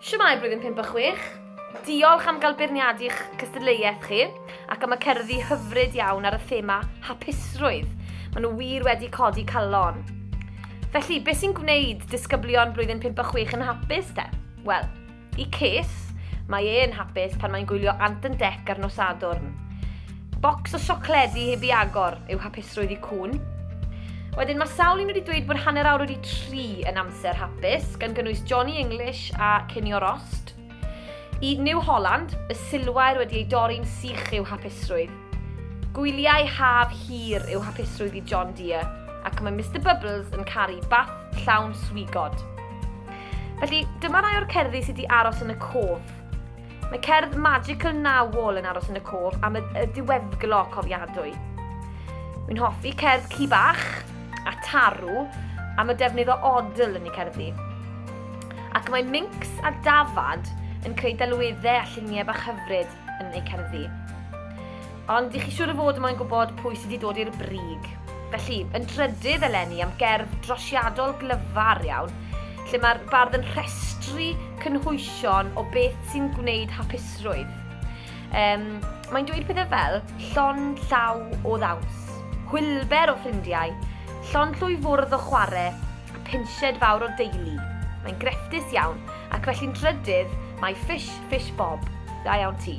Shwmae Blwyddyn Pump a Chwech! Diolch am gael beirniadu eich cystadleuaeth chi ac am y cerddi hyfryd iawn ar y thema hapusrwydd. Mae nhw wir wedi codi calon. Felly, beth sy'n gwneud disgyblion Blwyddyn Pump a Chwech yn hapus te? Wel, i Ces, mae e'n hapus pan mae'n gwylio Ant and Dec ar nos Sadwrn. Bocs o siocledi heb i agor yw hapusrwydd i cŵn. Wedyn mae sawl un wedi dweud bod hanner awr wedi tri yn amser hapus, gan gynnwys Johnny English a Cinio Rost. I New Holland, y silwair wedi ei dorri'n sych yw hapusrwydd. Gwyliau haf hir yw hapusrwydd i John Deere, ac mae Mr Bubbles yn caru bath llawn swigod. Felly, dyma rai o'r cerddi sydd wedi aros yn y cof. Mae cerdd magical Now Wall yn aros yn y cof am y, y diweddglo cofiadwy. Wy'n hoffi cerdd ci bach a tarw am y defnydd o odl yn ei cerddi. Ac mae minx a dafad yn creu delweddau a lluniau bach hyfryd yn ei cerddi. Ond i chi siŵr o fod mae'n gwybod pwy sydd wedi dod i'r brig. Felly, yn trydydd eleni am gerdd drosiadol glyfar iawn, lle mae'r bardd yn rhestru cynhwysion o beth sy'n gwneud hapusrwydd. Um, mae'n dweud pethau fel llon llaw o ddaws, hwylber o ffrindiau, llon llwy fwrdd o chwarae a pensied fawr o deulu. Mae'n grefftus iawn ac felly'n trydydd mae Fish Fish Bob. Da iawn ti.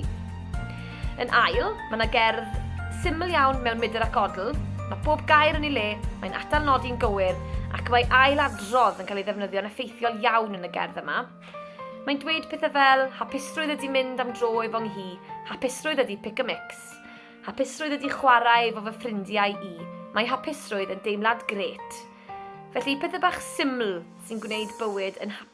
Yn ail, mae yna gerdd syml iawn mewn Mydr ac Odl, mae bob gair yn ei le, mae'n atal nodi'n gywir, ac mae ail adrodd yn cael ei ddefnyddio'n effeithiol iawn yn y gerdd yma. Mae'n dweud pethau fel, hapusrwydd ydy mynd am dro efo nghi, hapusrwydd ydy pick a mix, hapusrwydd ydy chwarae efo fy ffrindiau i, mae hapusrwydd yn deimlad gret. Felly, pethau bach syml sy'n gwneud bywyd yn hapus.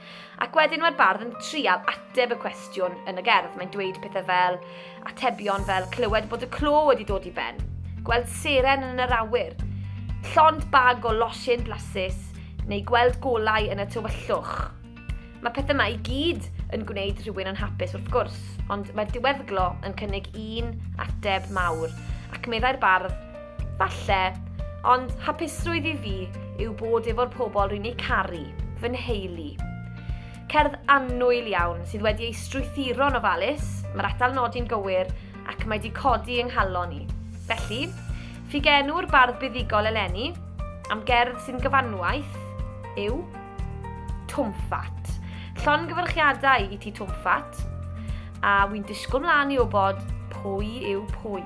Ac wedyn mae'r bardd yn trial ateb y cwestiwn yn y gerdd. Mae'n dweud pethau fel atebion fel clywed bod y clo wedi dod i ben, gweld seren yn yr awyr, llond bag o losin blasus neu gweld golau yn y tywyllwch. Mae pethau yma i gyd yn gwneud rhywun yn hapus wrth gwrs, ond mae'r diweddglo yn cynnig un ateb mawr, ac meddai'r bardd, Falle, ond hapusrwydd i fi yw bod efo'r pobl rwy'n eu caru, fy nheulu. Cerdd annwyl iawn sydd wedi ei strwythuro'n ofalus, mae'r atal nodi'n gywir ac mae di codi yng nghalon i. Felly, ffugenw'r bardd buddugol eleni am gerdd sy'n gyfanwaith yw Twmffat. Llon gyfyrchiadau i ti Twmffat, a wy'n disgwyl mlaen i wybod pwy yw pwy.